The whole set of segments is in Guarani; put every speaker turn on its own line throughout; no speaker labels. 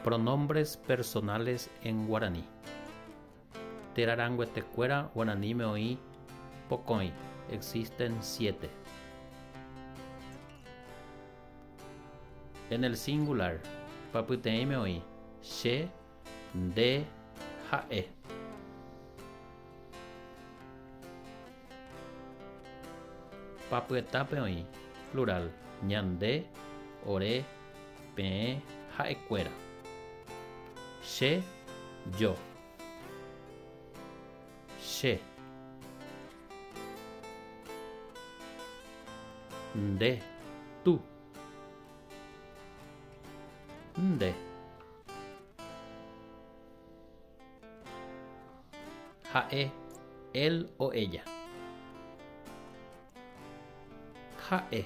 Pronombres personales en guaraní. Térã ranguetekuéra guaraníme oĩ pokõi, existen siete. En el singular, pyapyteĩme oĩ, che, nde, ha'e. Papyetápe oĩ, plural, ñande, ore, Peẽ ha'ekuéra. Che, yo. Che. Nde, tú. Nde. Ha'e, él o ella. Ha'e.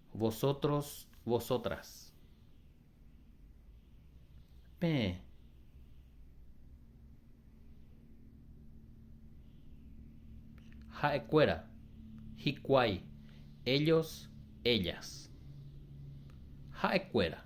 Vosotros, vosotras. Peẽ. Ha'ekuéra, hikuái, ellos, ellas. Ha'ekuéra.